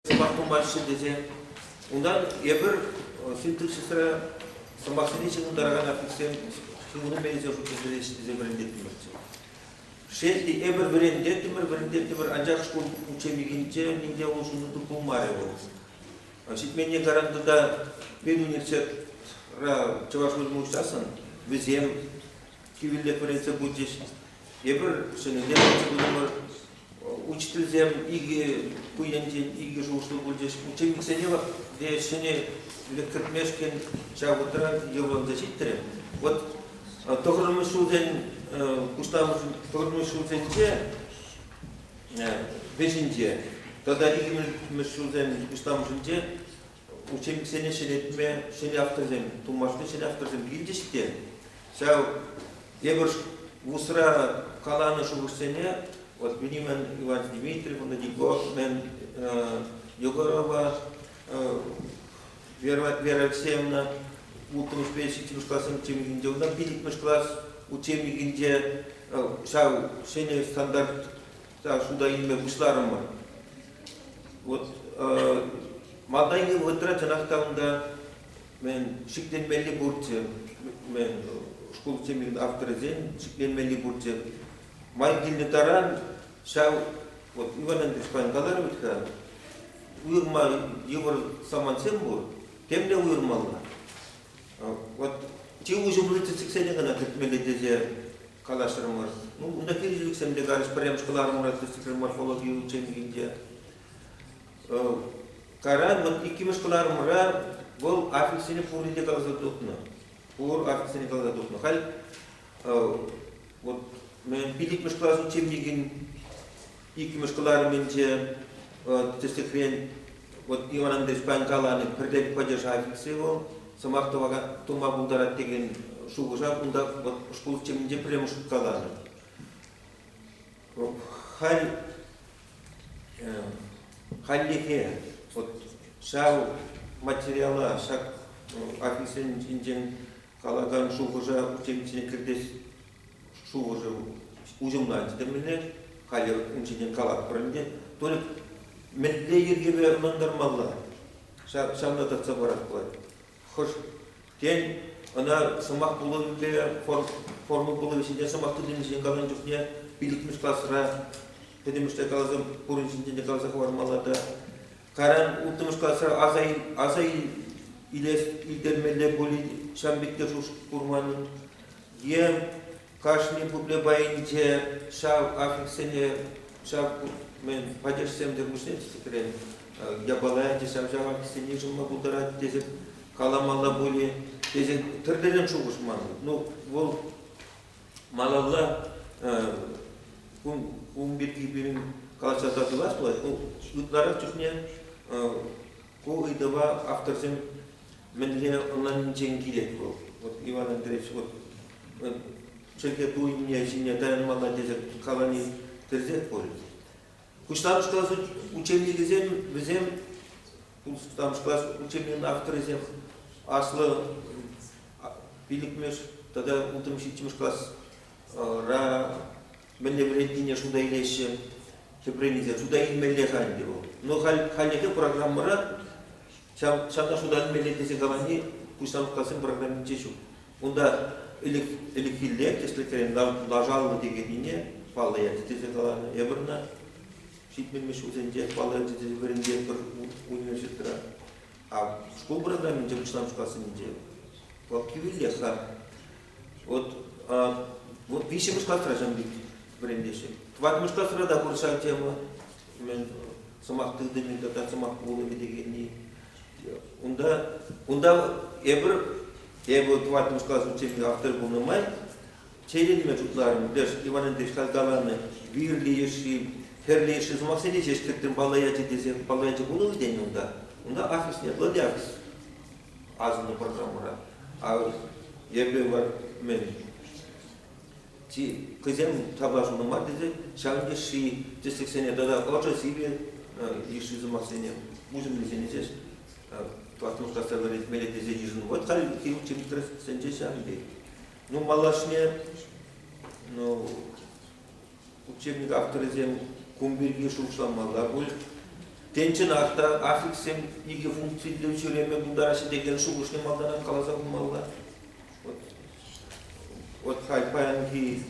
сӑмах пымаҫҫӗ тесе. Унтан эпир синтаксисра сӑмахсене ҫыхӑнтаракан аффикссем ҫыхӑну мелӗсем шутлешӗҫ тесе вӗрентеттӗмӗрччӗ. Шел те, эпир вӗрентеттӗмӗр, вӗрентеттӗмӗр, анчах шкул учебникӗнче нимте улшӑну пулмарӗ вӑл. Ҫитменни гарантата пин университетра чӑваш вӗренме учассӑн вӗсем кивеллех вӗренсе пычӗҫ. Эпир ҫӗнӗден вӗренсе учительсем икӗ ку енчен икӗ шухӑшлӑ пулчӗҫ. Учебниксене те ҫӗнӗ кӗртмешкӗн ҫав вӑхӑтра йӑлӑнса ҫитрӗ. Вот тӑхӑрмӗш ҫулсен пуҫламӑш тӑхӑрмӗш ҫулсенче вӗҫӗнче тата иккӗмӗш ҫулсен пуҫламӑшӗнче учебниксене ҫӗнетме ҫӗнӗ авторсем, тумашни ҫӗнӗ авторсем илчӗҫ те ҫав тепӗр вусра каланӑ шухӑшсене вот Беньямин Иван Дмитриевна, Его, Мен, Егорова Вера Алексеевна улттӑмӗшпе ҫиччӗмӗш классен учебникинче, унтан пиллӗкмӗш класс учебникинче ҫав ҫӗнӗ стандарта шута илме пуҫларӑмӑр. Вот малтанхи вӑхӑтра чӑнах та унта мен шикленмелли пурччӗ. Мен шкул учебникӗн авторӗсен шикленмелли пурччӗ. Май килнӗ таран ҫав вот Иван Андреевич паян каларӗ вӗт-ха, уйӑрман йывӑр самантсем пур, темле уйӑрмалла. Вот чи уҫӑ противотсексене кӑна кӗртмелле тесе калаҫрӑмӑр. Ну, унта хирӗҫлӗхсем те карӑш пӗрремӗш кӑларӑмра тӗслӗхсем морфологи учебникинче. Каран вот иккӗмӗш кӑларӑмра вӑл аффикссене пурне те каласа тухнӑ. Пур аффикссене каласа тухнӑ. Халь вот мен пиликмеш класс учебникин иккӗмӗш кӑларӑмӗнче тӗслӗхрен вот Иван Андреевич паян каланӑ пӗрлек падеша офици вӑл сӑмах тума пултарать текен шухӑша унта вот шкул тӗмӗнче пӗрремӗш хут каланӑ. Халь хальлӗхе вот ҫав материала ҫак офицсен ҫинчен калакан шухӑша учениче кӗртес шухӑшӑм уҫӑмланчӗ темӗнле. Халӗ ун ҫине калатпӑр ӗнтӗ. Толик мӗнле йӗркепе ӑнлантармалла? Ҫавна татса паратпӑр. Хӑш, тен, ӑна сӑмах пулӑвӗпе форма пулӑвӗ ҫинчен сӑмах тытӑмӗ ҫине каланӑ чухне пилӗкмӗш класра пӗтӗмӗшле каласам пурин ҫинчен те каласа хӑвармалла та каран улттӑмӗш класра аса, аса илес, илтермелле пулин ҫам пек те шуш курман. Е кашни пупле пайӗнче ҫав аффикссене ҫав мен падежсем тӗлпуҫне тӗслӗхрен япала ячӗ ҫав ҫав аффикссене йышӑнма пултарать тесе каламалла пулӗ тесе тӗрлӗрен шухӑш ман. Ну, вӑл малалла ун пирки пирӗн каласа тӑлас пулать. Ытларах чухне ку ыйтӑва авторсем Мӗнле ӑнланиччен килет вӑл? Вот Иван Андреевич, вот чӗлхе туйӑмне ҫине таянмалла тесе калани тӗрсех пулӗ. Пуҫламӑш класс учебникӗсем вӗсем пуҫламӑш класс учебникӗн авторӗсем аслӑ пилӗкмӗш тата ултӑмӗш ҫиччӗмӗш класра мӗнле вӗрентнине шута илеҫҫӗ, тӗпрен илсен шута илмелле-ха ӗнтӗ вӑл. Но халь, хальлӗхе программӑра ҫавна шута илмелле тесе калани пуҫтарулккасен программинче ҫук. Унта ӗлӗкхилле тӗслӗхрен лашаллӑ текеннине паллӑ ячӗ тесе каланӑ Эврна ҫитменмеш ҫулсенче паллӑ ячӗ тесе вӗрентетпӗр университетра. А шкул программинче пуҫламӑш классенче вӑл кивелех-ха. Вот, а, вот виҫҫӗмӗш класра ҫын вӗрентеҫҫӗ. Тӑваттӑмӗш класра та пур ҫак тема. мен сӑмах тытӑмӗ тата сӑмах пулӑмӗ дегенни унта унта эпир эпӗ тӑваттӑмӗш класс учебникӗ автор пулнӑ май чейленме шутларӑм леш иван андреевич каланӑ вирли йышши хӗрлӗ йышши сӑмахсене ҫеҫ кӗртрӗм палла ячӗ тесе палла ячӗ пулнӑ тенӗ унта унта ахрӑш нет владякс асӑннӑ программӑра а эпӗ мен хӑйсем тапла шунӑ мар тесе ҫавӑн йышши тӗслӗхсене тата ӑшӑ сивӗ йышши сӑмахсене уҫӑмлисене ҫеҫ классӑн касса мелетлесе йышӑннӑ. Вот халь хирургчӗ тӗрӗссинче ҫавӑн пек. Ну, малашне ну, учебник авторӗсем кун пирки шухӑшламалла пуль. Тенченах та аффикссем икӗ функциллӗ ҫӳреме пултараҫҫӗ текен шухӑшне малтанах каласа хумалла. Вот Вот паянхи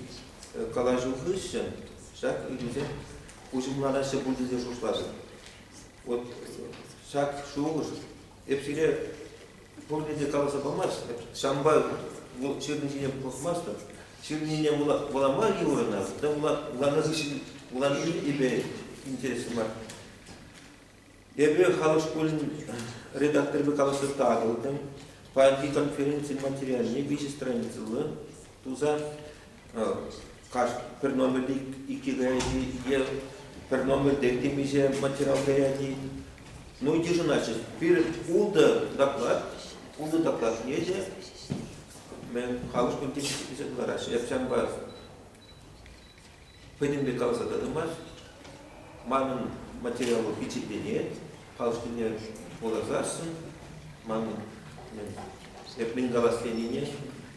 калаҫу хыҫҫӑн ҫак ыйтусем уҫӑмланаҫҫӗ пуль тесе шутлатӑп. Вот ҫак шухӑш эп сире пурне те каласа памасть. Ҫавӑнпа вӑл ҫырнӑ ҫине пӑхмастӑп. Ҫырнине вулама йывӑрна, та вуланӑ хыҫҫӑн вуланни эпе интереслӗ мар. Эпӗ халӑх шкулӗн редакторӗпе калаҫса татӑлтӑм. Паянхи конференцин материалне виҫӗ страницӑллӑ туса пӗр номерли иккӗ каяйди е пӗр номерте темиҫе материал каяйди. Ну, йышӑнаҫҫӗ. Пирӗн ултӑ доклад, ултӑ докладне те мен халӑх кунти килсе кӑлараҫҫӗ. Эп ҫавӑнпа хӑйнемле каласа тӑтӑмӑр. Манӑн материалу пичетленет, халӑхсене вуласассӑн манӑн эп мӗн калас тенине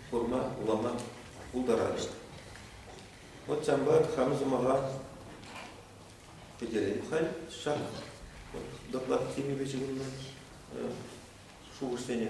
курма, вулама пултаратӑп. Вот самбат хан сӑмаха пӗтерем халь ҫак вот доклад темипе ҫыхӑннӑ шухӑшсене